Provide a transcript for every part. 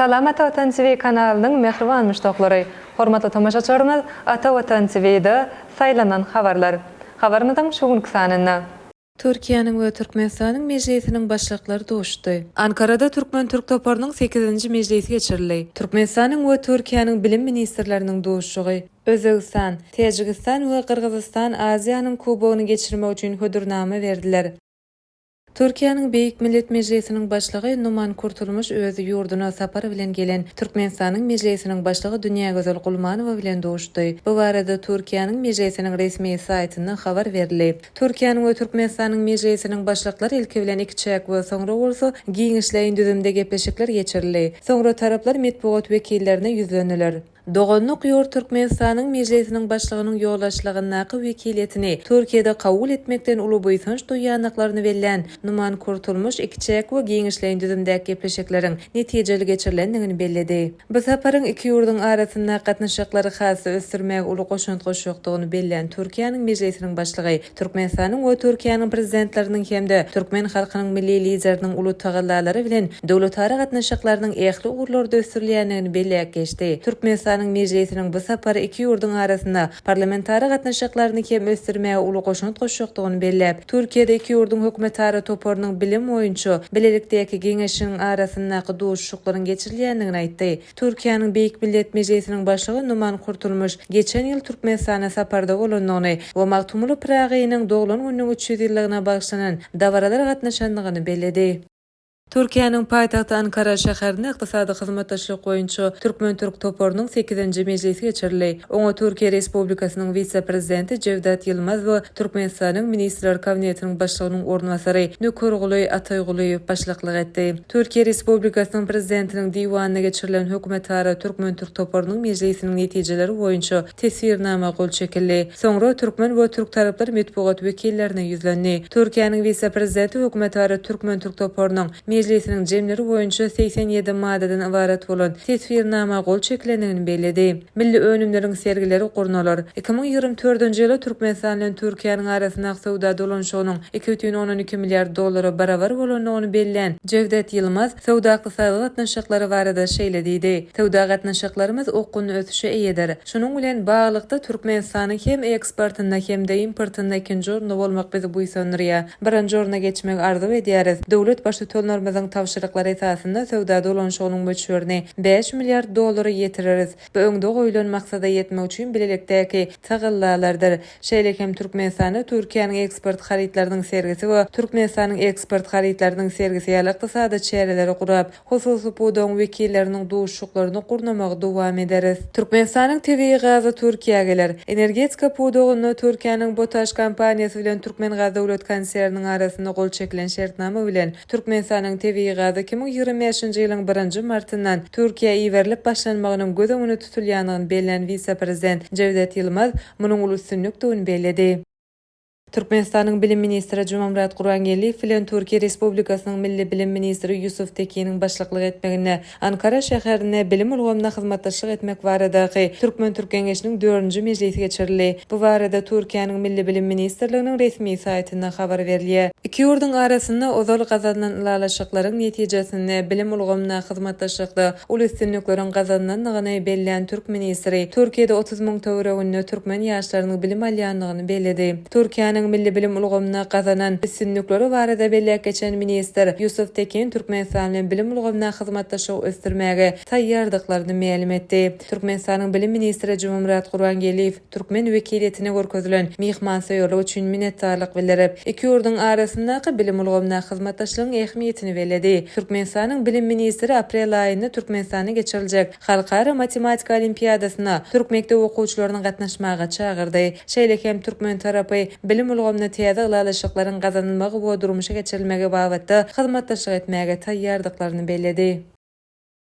Salam Ata Watan TV kanalynyň mähriban muşdaklary! Hormatly tomaşaçylarymyz Ata Watan TV-da Saýlanan habarlar habarymyzyň şu günki sanynda. Türkiýäniň we Türkmenistanyň Mejlisiniň Başlyklary duşdy. Ankarada türkmen-türk toparynyň sekizinji mejlisi geçirildi. Türkmenistanyň we Türkiýäniň Bilim ministrleriniň duşuşygy. Özbegistan, Täjigistan we Gyrgyzystan Aziýanyň Kubogyny geçirmek üçin hödürnama berdiler. Türkiýäniň Beýik Millet Mejlisiniň Başlygy Numan Kurtulmuş öz ýurduna sapar bilen gelen Türkmenistanyň Mejlisiniň Başlygy Dünýägözel Gulmanowa bilen duşdy. Bu barada Türkiýäniň Mejlisiniň resmi saýtynda habar berildi. Türkiýäniň we Türkmenistanyň Mejlisiniň Başlyklary ilki bilen ikiçäk we soňra bolsa giňişleýin düzümde gepleşikler geçirildi. Soňra taraplar metbugat wekillerine ýüzlendiler. Doganlyk ýurt Türkmenistanyň Mejlisiniň Başlygynyň ýolbaşçylygyndaky wekiliýetini Türkiýede kabul etmekden uly buýsanç duýýandyklaryny bellän Numan Kurtulmuş ikiçäk we giňişleýin düzümdäki gepleşikleriň netijeli geçirilendigini belledi. Bu saparyň iki ýurduň arasyndaky gatnaşyklary has-da ösdürmäge uly goşant goşjakdygyny bellän Türkiýäniň Mejlisiniň Başlygy Türkmenistanyň we Türkiýäniň Prezidentleriniň hem-de türkmen halkynyň Milli Lideriniň uly tagallalary bilen döwletara gatnaşyklarynyň ähli ugurlarda ösdürilýändigini belläp geçdi. Türkmenistanyň Mejlisiniň bu sapary iki ýurduň arasynda parlamentara gatnaşyklaryny hem ösdürmäge uly goşant goşjakdygyny belläp, Türkiýede iki ýurduň hökümetara toparynyň bilim boýunça bilelikdäki geňeşiniň arasyndaky duşuşyklaryň geçirilýändigini aýtdy. Türkiýäniň Beýik Millet Mejlisiniň Başlygy Numan Kurtulmuş geçen ýyl Türkmenistana saparda bolandygyny we Magtymguly Pyragynyň doglan gününiň üç ýüz ýyllygyna bagyşlanan dabaralara gatnaşandygyny belledi. Türkiýäniň paýtagty Ankara şäherinde Ykdysady hyzmatdaşlyk boýunça türkmen-türk toparynyň sekizinji mejlisi geçirildi. Oňa Türkiýe Respublikasynyň wise-prezidenti Jewdat Ýylmaz we Türkmenistanyň Ministrler Kabinetiniň Başlygynyň orunbasary Nökerguly Ataýgulyýew başlyklyk etdi. Türkiýe Respublikasynyň Prezidentiniň Diwanynda geçirilen hökümetara türkmen-türk toparynyň mejlisiniň netijeleri boýunça Teswirnama gol çekildi. Soňra türkmen we türktaraplar metbugat wekillerine ýüzlendi. Türkiýäniň wise-prezidenti hökümetara türkmen-türk toparynyň Mejlisiniň jemleri boýunça segsen ýedi maddadan ybarat bolan Teswirnama gol çekilendigini belledi. Milli önümleriň sergileri gurnalar. Iki müň ýigrimi dördünji ýyla Türkmenistan bilen Türkiýäniň arasyndaky söwda dolanyşygynyň iki bütin ondan iki milliard dollara barabar bolandygyny bellän Jewdet Ýylmaz, Söwda-ykdysady gatnaşyklary barada şeýle diýdi, Söwda gatnaşyklarymyz okgunly ösüşe eýedir. Şunuň bilen baglylykda, Türkmenistanyň hem eksportynda hem-de importynda ikinji orunda bolmak bizi buýsandyrýar. Birinji orna geçmegi arzuw edýäris. Döwlet Baştutanlarymyzyň tabşyryklary esasynda söwda dolanyşygynyň möçberini bäş milliard dollara ýetireris. Bu öňde goýlan maksada ýetmek üçin bilelikdäki tagallalardyr. Şeýle hem Türkmenistanda Türkiýäniň eksport harytlarynyň sergisi we Türkmenistanyň eksport harytlarynyň sergisi ýaly ykdysady çäreleri gurap, hususy pudagyň wekilleriniň duşuşyklaryny gurnamagy dowam ederis. Türkmenistanyň tebigy gazy Türkiýä geler. Energetika pudagynda Türkiýäniň BOTAŞ kompaniýasy bilen Türkmengaz döwlet konserniniň arasynda gol çekilen şertnama bilen, Türkmenistanyň tebigy gazy iki müň ýigrimi bäşinji ýylyň birinji martyndan Türkiýä iberilip başlanmagynyň göz öňünde tutulýandygyny bellän wise-prezident Jewdet Ýylmaz, munuň uly üstünlikdigini belledi. Türkmenistanyň bilim ministri Jumamyrat Gurbangeldiýew bilen Türkiýe Respublikasynyň milli bilim ministri Ýusuf Tekiniň başlyklyk etmeginde Ankara şäherinde bilim ulgamynda hyzmatdaşlyk etmek baradaky türkmen-türk geňeşiniň dördünji mejlisi geçirildi. Bu barada Türkiýäniň Milli bilim ministrliginiň resmi saýtynda habar berilýär. Iki ýurduň arasynda ozal gazanylan ylalaşyklaryň netijesinde bilim ulgamynda hyzmatdaşlykda uly üstünlikleriň gazanylandygyny bellän türk ministri Türkiýede otuz müň töwereginde türkmen ýaşlarynyň bilim alýandygyny belledi. Türkiýäniň milli bilim ulgamynda gazanan üstünlikleri barada belläp geçen ministr Ýusuf Tekin Türkmenistan bilen bilim ulgamynda hyzmatdaşlygy ösdürmäge taýýardyklaryny mälim etdi. Türkmenistanyň bilim ministri Jumamyrat Gurbangeldiýew, türkmen wekiliýetine görkezilen myhmansöýerlik üçin minnetdarlyk bildirip, iki ýurduň arasyndaky bilim ulgamyndaky hyzmatdaşlygyň ähmiýetini belledi. Türkmenistanyň Bilim ministri aprel aýynda Türkmenistanda geçiriljek Halkara matematika olimpiadasyna türk mekdep okuwçylaryny gatnaşmaga çagyrdy. Şeýle hem türkmen tarapy bilim ulgamynda täze ylalaşyklaryň gazanylmagy we durmuşa geçirilmegi babatda hyzmatdaşlyk etmäge taýýardyklaryny belledi.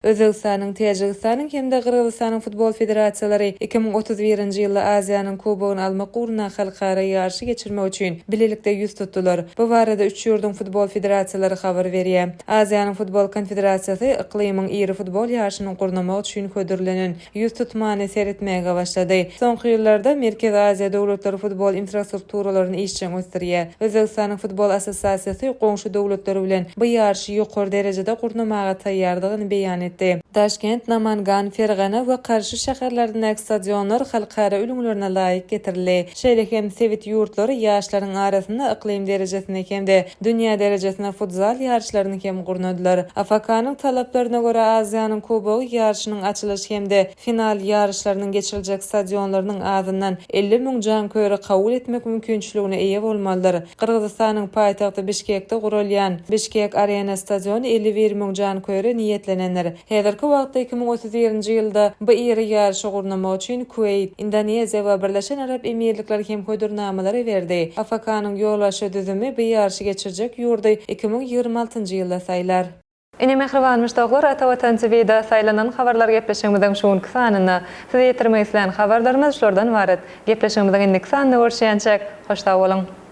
Özbegistanyň, Täjigistanyň hem-de Gyrgyzystanyň futbol federasiýalary iki müň otuz birinji ýylda Aziýanyň Kubogyny almak ugrunda halkara ýaryşy geçirmek üçin bilelikde ýüz tutdular. Bu barada üç ýurduň futbol federasiýalary habar berýär. Aziýanyň futbol konfederasiýasy yklymyň iri futbol ýaryşyny gurnamak üçin hödürlenen ýüztutmany seretmäge başlady. Soňky ýyllarda Merkezi Aziýa döwletleri futbol infrastrukturalaryny işjeň ösdürýär. Özbegistanyň futbol assosiasiýasy goňşy döwletler bilen bu ýaryşy ýokary derejede gurnamaga taýýardygyny beýan etdi. Daşkent, Namangan, Fergana we Karşy şäherlerindäki stadionlar halkara ülňülerine laýyk getirildi. Şeýle hem sebit ýurtlary ýaşlaryň arasynda yklym derejesinde hem-de dünýä derejesinde futzal ýaryşlaryny hem gurnadylar. AFK-nyň talaplaryna görä Aziýanyň Kubogy ýaryşynyň açylyş hem-de final ýaryşlarynyň geçiriljek stadionlarynyň azyndan elli müň janköýeri kabul etmek mümkinçiligine eýe bolmalydyr. Gyrgyzystanyň paýtagty Bişkekde gurulýan Bişkek Arena stadiony elli bir müň janköýere niýetlenendir. Häzirki wagtda iki müň otuz birinji ýylda bu iri ýaryşy gurnamak üçin Kuweýt, Indoneziýa we Birleşen Arap Emirlikleri hem hödürnamalary berdi. AFK-nyň ýolbaşçy düzümi bu ýaryşy geçirjek ýurdy iki müň ýigrimi altynjy ýylda saýlar. Ine mähriban muşdaklar Ata Watan TV-da saýlanan habarlar gepleşigimiziň şu günki sanynda. Size ýetirmek islän habarlarymyz şulardan ybarat. Gepleşigimiziň indiki sanynda görüşýänçäk, hoş sag boluň!